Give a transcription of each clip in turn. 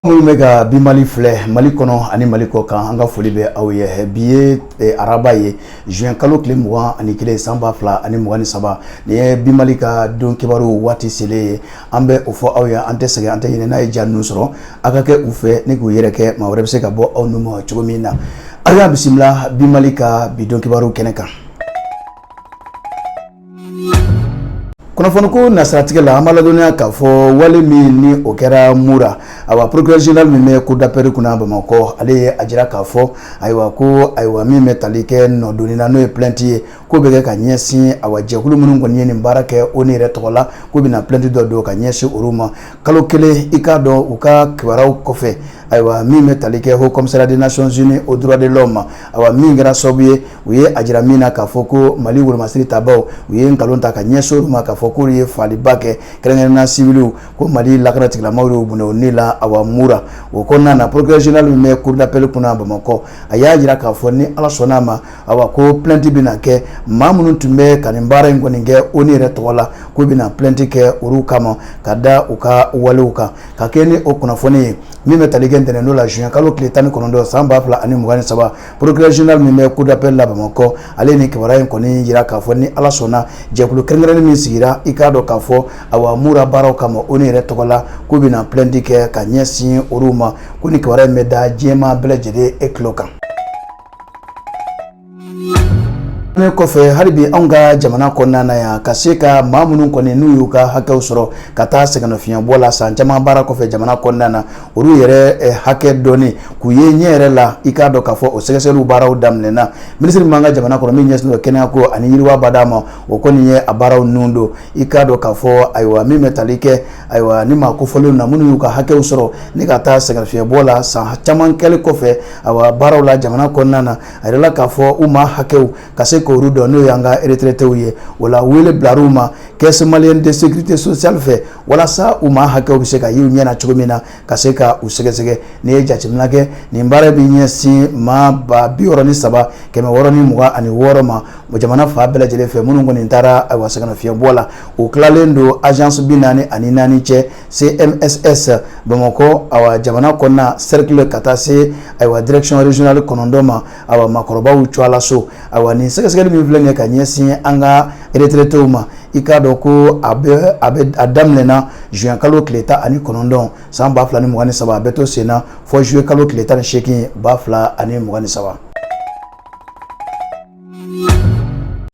minnu bɛ ka bi mali filɛ mali kɔnɔ ani mali kɔ kan an ka foli bɛ aw ye bi ye araba ye juin kalo tile mugan ani kelen san ba fila ani mugan ni saba nin ye bi mali ka don kibaru waati selen ye an bɛ o fɔ aw ye an tɛ sɛgɛn an tɛ ɲinɛ n'a ye ja ninnu sɔrɔ a ka kɛ u fɛ ni k'u yɛrɛkɛ maa wɛrɛ bɛ se ka bɔ aw nu ma cogo min na aw y'a bisimila bi mali ka bi don kibaru kɛnɛ kan kunnafoniko nasiratigɛ la an b'a ladɔnniya k'a fɔ wale min ni o kɛra mura ayiwa procureur général min bɛ cour d'appel kunna bamakɔ ale ye a jira k'a fɔ ayiwa ko ayiwa min bɛ tali kɛ nɔdonni na n'o ye plainte ye k'o bɛ kɛ ka ɲɛsin awa jɛkulu minnu kɔni ye nin baara kɛ onu yɛrɛ tɔgɔ la k'u bɛna plainte dɔ don ka ɲɛsin olu ma kalo kelen i k'a dɔn u ka kibaruyaw kɔfɛ ayiwa min bɛ tali kɛ haut commissariat des nations unies aux droits de l'homme awa min kɛra sababu ye u ye a jira min na k'a fɔ ko mali wolomasiri tabaw u ye nkalon ta ka ɲɛsin olu ma k'a fɔ k'olu ye faaliba kɛ kɛrɛnkɛrɛnna siviliw ko mali lakana tigilamaw y'u bɔnɛ u ni la awa mura o kɔnɔna na procureur général min bɛ cour d'appel kunna bamakɔ a y'a jira k'a fɔ ni ala sɔnna a ma awa ko plainte bɛna kɛ maa minnu tun bɛ ka nin baara in kɔni kɛ onu yɛrɛ tɔgɔ la k'u bɛna plainte kɛ olu kama ka da u ka walew kan ka kɛɲɛ ni o kunnafoni ye min bɛ tali kɛ ntɛnɛndon la juin kalo tile tan ni kɔnɔntɔn san ba fila ani mugan ni saba procureur général min bɛ cour d'appel la bamakɔ ale nin kibaruya in kɔni jira k'a fɔ ni ala sɔnna jɛkulu kɛrɛnkɛrɛnnen min sigira i k'a dɔn k'a fɔ awa mura baaraw kama onu yɛrɛ tɔgɔ la k'u bɛna plainte kɛ ka ɲɛsin olu ma ko nin kibaruya in bɛ da diɲɛ maa bɛɛ lajɛlen e tulo kan nin kɔfɛ hali bi anw ka jamana kɔnɔna na yan ka se ka maa minnu kɔni n'u y'u ka hakɛw sɔrɔ ka taa sɛgɛnnafiɲɛbɔ la san caman baara kɔfɛ jamana kɔnɔna na olu yɛrɛ hakɛ dɔnni k'u ye ɲɛ yɛrɛ la i k'a dɔn k'a fɔ o sɛgɛsɛgɛliw baaraw daminɛna minisiri min b'an ka jamana kɔnɔ min ɲɛsinnen don kɛnɛyako ani yiriwa badaa ma o kɔni ye a baaraw nun don i k'a dɔn k'a fɔ ayiwa min bɛ tali kɛ ayiwa nin maa kofɔlenw na minnu y'u ka hakɛw sɔrɔ ni ka taa sɛgɛnnafiɲɛbɔ la san caman kɛli kɔfɛ ayiwa baaraw la jamana kɔnɔna na a yirala k'a fɔ u maa hakɛw ka se k'olu dɔn n'o y'an ka retraitéw ye o la wele bilala u ma caisse malienne de sécurité sociale fɛ walasa u maa hakɛw bɛ se ka y'u ɲɛ na cogo min na ka se ka u sɛgɛsɛgɛ n'i ye jateminɛ kɛ nin baara bɛ ɲɛsin maa ba biwɔɔrɔ ni saba kɛmɛ wɔɔrɔ ni mugan ani wɔɔrɔ ma o jamana fan bɛɛ lajɛlen fɛ minnu kɔni nin taara awa sɛgɛnnafiɲɛbɔ la o tilalen don agence binaani ani naani cɛ cmss bamakɔ awa jamana kɔnɔna cercle ka taa se awa direction régionale kɔnɔntɔn ma awa makɔrɔbaw tɔgɔla so ayiwa nin sɛgɛsɛgɛli min filɛ nin ye ka ɲɛsin an ka retraitéw ma i k'a dɔn ko a a daminɛna juin kalo tile tan ani kɔnɔntɔn san ba fila ni mugan ni saba a bɛ to sen na fɔ zuye kalo tile tan ni seegin ba fila ani mugan ni saba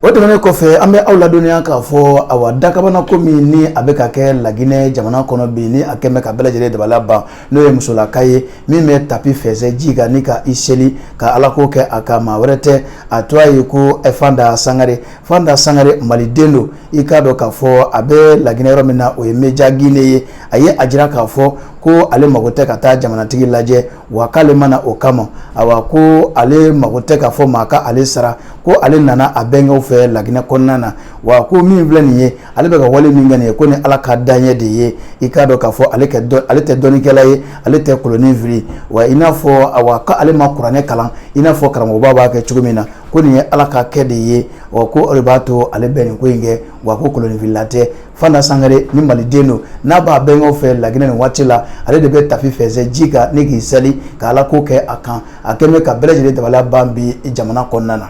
o tɛmɛnen kɔfɛ an bɛ aw ladɔnniya k'a fɔ awa dakabana ko min ni a bɛ ka kɛ laginɛ jamana kɔnɔ bi ni a kɛlen bɛ ka bɛɛ lajɛlen dabala ban n'o ye musolaka ye min bɛ tapi fɛsɛ ji kan ni ka i seli ka ala ko kɛ a kan maa wɛrɛ tɛ a tɔgɔ ye ko eh, fanda sangare fanda sangare maliden don i k'a dɔn k'a fɔ a bɛ laginɛ yɔrɔ min na o ye meja gine ye a ye a jira k'a fɔ ko ale mago tɛ ka taa jamanatigi lajɛ wa k'ale ma na o kama awa ko ale mago tɛ k'a fɔ maa ka ale sara ko ale nana a bɛnkɛw fɛ laginɛ kɔnɔna na wa ko min filɛ nin ye ale bɛ ka wale min kɛ nin ye ko ni ala ka dan ɲɛ de ye i k'a dɔn k'a fɔ ale ale tɛ dɔnnikɛla ye ale tɛ kolonin fili wa i n'a fɔ a ko ale ma kuranɛ kalan i n'a fɔ karamɔgɔba b'a kɛ cogo min na ko nin ye ala ka kɛ de ye wa k'o de b'a to ale bɛ nin ko in kɛ wa ko koloninfilila tɛ fanda sangare ni maliden don n'a b'a bɛnkaw fɛ laginɛ nin waati la ale de bɛ tafe fɛsɛ ji kan ni k'i seli ka ala ko kɛ a kan a kɛlen bɛ ka bɛɛ lajɛlen dabala ban bi jamana kɔnɔna na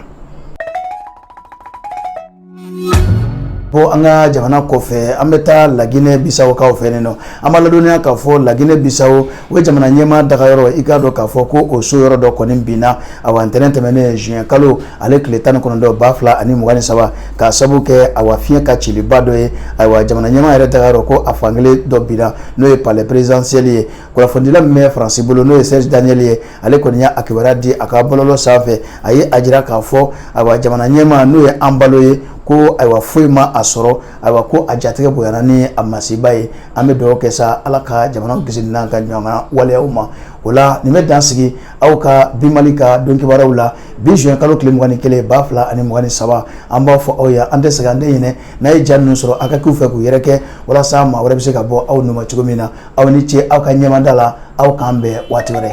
bɔ an ka jamana kɔfɛ an bɛ taa laginɛ bisawokaw fɛ yen nɔ an b'a ladɔnniya k'a fɔ laginɛ bisawo o ye jamana ɲɛmaa dagayɔrɔ i k'a dɔn k'a fɔ ko o so yɔrɔ dɔ kɔni binna awa ntɛnɛn tɛmɛnen juin kalo ale tile tan ni kɔnɔntɔn ba fila ani mugan ni saba k'a sabu kɛ awa fiɲɛ ka ciliba dɔ ye ayiwa jamana ɲɛmaa yɛrɛ dagayɔrɔ ko a fankelen dɔ binna n'o ye palais présidentiel ye kunnafonidila min bɛ faransi bolo n'o ye serge daniel ye ale kɔni y'a kibaruya di a ka bɔlɔlɔ sanfɛ a ye a jira k'a fɔ ayiwa jamana ɲɛmaa n'o ye embalo ye ko ayiwa foyi ma a sɔrɔ ayiwa ko a jatigɛ bonyana ni a masiba ye an bɛ dugawu kɛ sa ala ka jamana kisi n'an ka ɲɔgɔn waleyaw ma o la nin bɛ dan sigi aw ka bi mali ka don kibaruyaw la bi juin kalo tile mugan ni kelen ba fila ani mugan ni saba an b'a fɔ aw ye an tɛ sɛgɛn an tɛ ɲinɛ n'a ye ja ninnu sɔrɔ a ka k'u fɛ k'u yɛrɛkɛ walasa maa wɛrɛ bɛ se ka bɔ aw nun ma cogo min na aw ni ce aw ka ɲɛmada la aw k'an bɛn waati wɛrɛ